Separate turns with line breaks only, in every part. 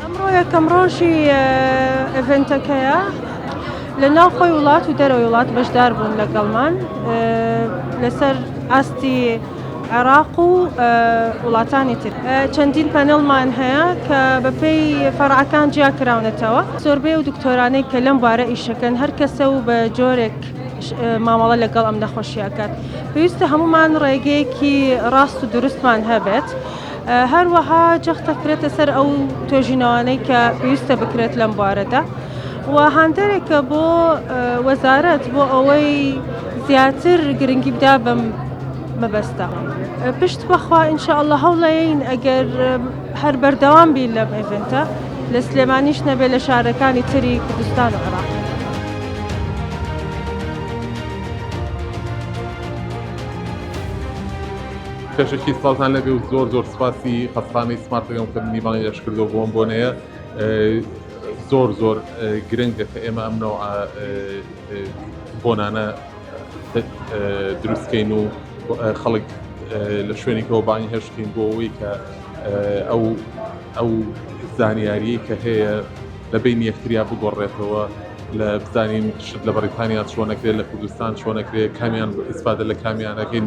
ئەمڕۆ یەکەم ڕۆژی ئەڤنتەکەیە لە ناو خۆی وڵات و دەرەوەی وڵات بەشدار بوون لەگەڵمان لەسەر ئاستی عێراق و وڵاتانی تر چەندین پەنەڵمان هەیە کە بەپێی فەرعەکان جیا کراونەتەوە زۆربەی و دکتۆرانەی کە لەم بارە ئیشەکەن هەر کەسە و بە جۆرێک مامەڵە لەگەڵ ئەم نەخۆشیەکەات پێویستە هەمومان ڕێگەیەکی ڕاست و دروستمان هەبێت. هەروەها جەخت دەکرێتە سەر ئەو توێژینەوانەی کە پێویستە بکرێت لەم بارەدا و هاندەرێکە بۆ وەزارەت بۆ ئەوەی زیاتر گرنگی بدا بەم مەبەستە پشت بەخوا ئینشاء الله هەوڵەیەین ئەگەر هەر بەردەوام بین لەم ئێڤنتە لە سلێمانیش نەبێ لە شارەکانی تری کوردستان و عراق
پێشەکی سڵاوتان لەبێ و زۆر زۆر سپاسی قەسخانەی سمارتەکەم کە منی بانگی ئەش کردو بۆم بۆنەیە زۆر زۆر گرنگە کە ئێمە ئەم نەوع بۆنانە دروستکەین و خەڵک لە شوێنێکەوە بانگی هەشتکەین بۆ ئەوەی کە ئەو ئەو زانیاریی کە هەیە لە بین یەکتریا بگۆڕێتەوە لە بزانین شت لە بەریتانیا چۆنەکرێت لە کوردستان چۆنەکرێت کامیان ئیسفادە لە کامیانەکەین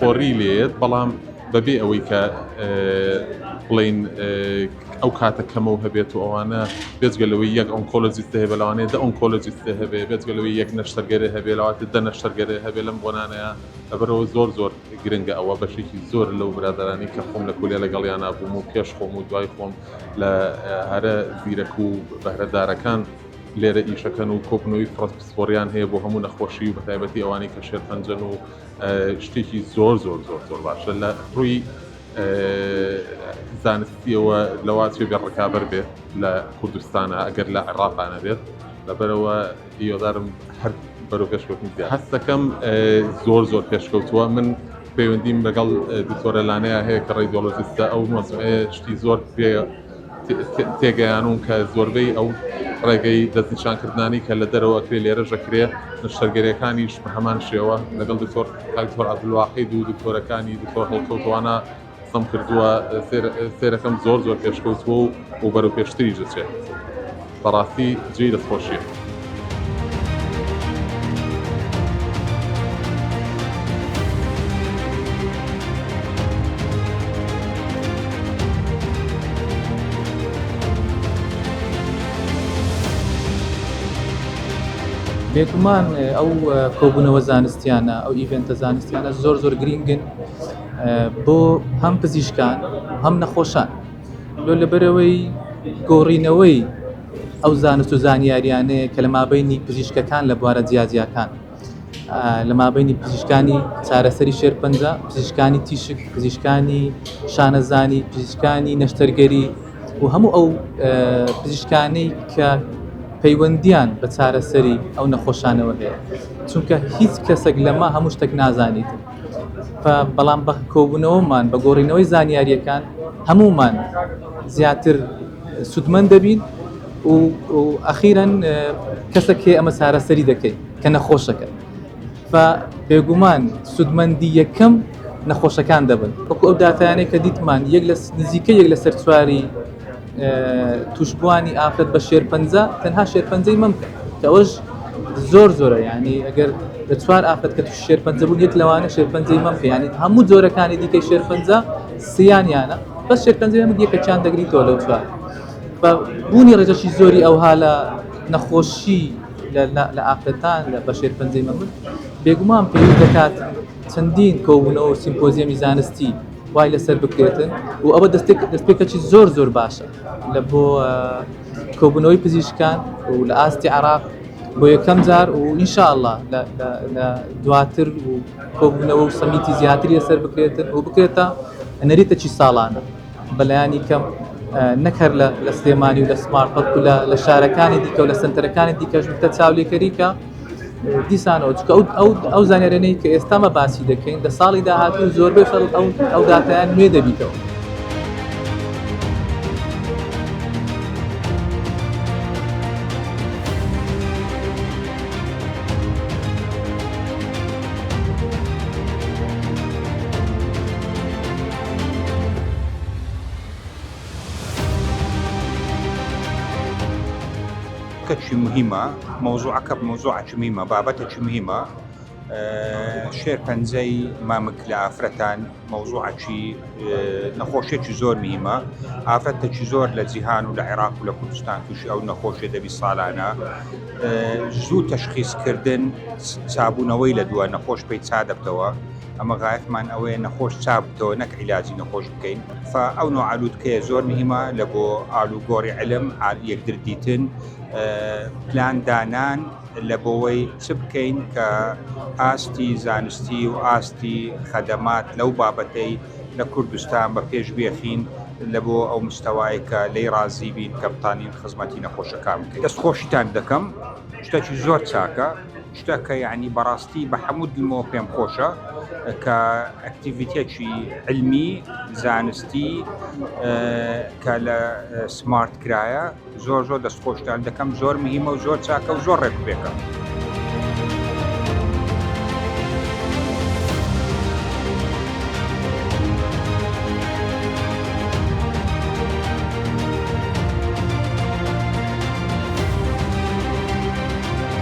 پۆڕی لێیەت بەڵام بەبێ ئەوەی کە بڵین ئەو کاتە کەمەوە هەبێت و ئەوانە بێزگەلەوەی یەک ئۆنکۆلۆجیست هەیە بەلاوانەیە دە ئۆنکۆلۆجیست هەبێ بێزگەلەوەی یەک نەشتەرگەری هەبێلاواتە دە نەشتەرگەری هەبێ لەم بۆنانەیە ئەبەرەوە زۆر زۆر گرنگە ئەوە بەشێکی زۆر لەو برادرانی کە خۆم لە کولێ لەگەڵیان نبووم و پێش خۆم و دوای خۆم لە هەرە زیرەک و بەهرەدارەکان لێرە ئیشەکەن و کۆبنەوەی پسپۆریان هەیە بۆ هەموو نەخۆشی و بەتایبەتی ئەوانی کە شێرپەنجەن و شتێکی زۆر زۆر زۆر زۆر باشە لە ڕووی زانستیەوە لەوا چێ بێ ڕکابەر بێت لە کوردستانە ئەگەر لە عێراقانە بێت لەبەرەوە هیوادارم هەر بەرەو پێشکەوتنی زیاد هەستەکەم زۆر زۆر پێشکەوتووە من پەیوەندیم لەگەڵ دکتۆرە لانەیە هەیە کە ڕێدۆلۆجستە ئەو مەسئلەیە شتی زۆر پێ تێگەیانووم کە زۆربەی ئەو ڕێگەی دەستنیشانکردنانەی کە لە دەرەوە ئەکرێ لێرەش ئەکرێ، نەشتەرگەریەکانیش بە هەمان شێوە، لەگەڵ دکتۆر کاک دکتۆر عەبدولواحید و دکتۆرەکانی دکتۆر هەڵکەوتوانە قسەم کردووە، سەیرەکەم زۆر زۆر پێشکەوتووە و بەرەو پێشتریش دەچێ. بەڕاستی جێی دەستخۆشیە.
بێگومان ئەو کۆبوونەوە زانستیانە ئەو ئیڤێنتە زانستیانە زۆر زۆر گرینگن بۆ هەم پزیشکان هەم نەخۆشان لۆ لەبەرەوەی گۆڕینەوەی ئەو زانست و زانیاریانەیە کە لە مابینی پزیشکەکان لە بوارە جیاجیاکان لە مابینی پزیشکانی چارەسەری شێرپەنجە پزیشکانی تیشک پزیشکانی شانەزانی پزیشکانی نەشتەرگەری و هەموو ئەو پزیشکانەی کە پەیوەندیان بە چارەسەری ئەو نەخۆشانەوە هەیە چونکە هیچ کەسێک لەمە هەموو شتێک نازانیت بەڵام بە کۆبوونەوەمان بە گۆڕینەوەی زانیاریەکان هەموومان زیاتر سودمەند دەبین و ئەخیرەن کەسە کێ ئەمە چارەسەری دەکەین کە نەخۆشەکە بێگومان سودمەندی یەکەم نەخۆشەکان دەبن وەکو ئەو داتانێک کە دیتمان یەک لە نزیکە یەک لەسەر چواری توشبوانی ئافرەت بە شێرپەنجە تەنها شێرپەنجەی مەم کە کەەوەش زۆر زۆرە ینی ئەگەر لە چوار ئافرەت کە شێرپەنجە بوو یەک لەوانە شێرپەنجەی مەم کە ینی هەموو جۆرەکانی دیکەی شێرپەنجە سیانیانە بە شێرپەنجەیە مگیە کە چیان دەگری تۆ لەو چوار بە بوونی ڕێژەشی زۆری ئەوها لە نەخۆشی لە ئافرەتان لە بە شێرپەنجەی مەمن بێگومان پێ دەکات چەندین کۆبوونەوە و سیمپۆزیەمی زانستی وای لەسەر بکرێتن و ئەوە دەستێک دەستپێکەکی زۆر زۆر باشە لە بۆ کۆبوونەوەی پزیشکان و لە ئاستی عراق بۆ یەکەم جار و ئینشاءله لە دواتر و کۆبوونەوە و سەمیتی زیاتری لەسەر بکرێتن و بکرێتە نەریتەکی ساڵانە. بەلایەنی کەم نەک هەر لە لە سلێمانی و لە سمارت بەڵکو لە لە شارەکانی دیکە و لە سنتەرەکانی دیکەش بکە چاولێکەریکە دیسانەوە چکە ئەو ئەو ئەو زانێرێنەی کە ئێستامە باسی دەکەین لە ساڵی داهاتوو زۆربەی خەڵ ئەو ئەو داتیان نوێ دەبیتەوە.
کەچی مهمە مەوزوعەکە مەوزوعکی مهمە بابەتێکی مهمە شێر پەنجەی مامک لە ئافرەتان مەوزوعکی نەخۆشێکی زۆر مهمە ئافرەتێکی زۆر لە جیهان و لە عێراق و لە کوردستان تووشی ئەو نەخۆشێ دەبی ساڵانە زوو تەشخیزکردن چابوونەوەی لە دووە نەخۆش پێی چا دەبتەوە ئەمە غایەتمان ئەوەیە نەخۆش چاک بکەوە نەک عیلاجی نەخۆش بکەین فا ئەو نوعە لوتکەیە زۆر مهمە لە بۆ ئالوگۆری علم عال یەکدر دیتن پلان دانان لە بۆوەی چ بکەین کە ئاستی زانستی و ئاستی خەدەمات لەو بابەتەی لە کوردستان بە پێش بێخین لە بۆ ئەو مستەوای کە لێی ڕازی بین کە بتانین خزمەتی نەخۆشەکان بکەین دەست خۆشیتان دەکەم شتەکی زۆر چاکە. شتە کە یەعنی بەڕاستی بە حەموو دڵمەوە پێم خۆشە کە ئەکتیڤیتێکی علمی زانستی کە لە سمارت کرایە زۆر زۆر دەست خۆشتان دەکەم زۆر مهمە و زۆر چاکە و زۆر ڕێکبێکە.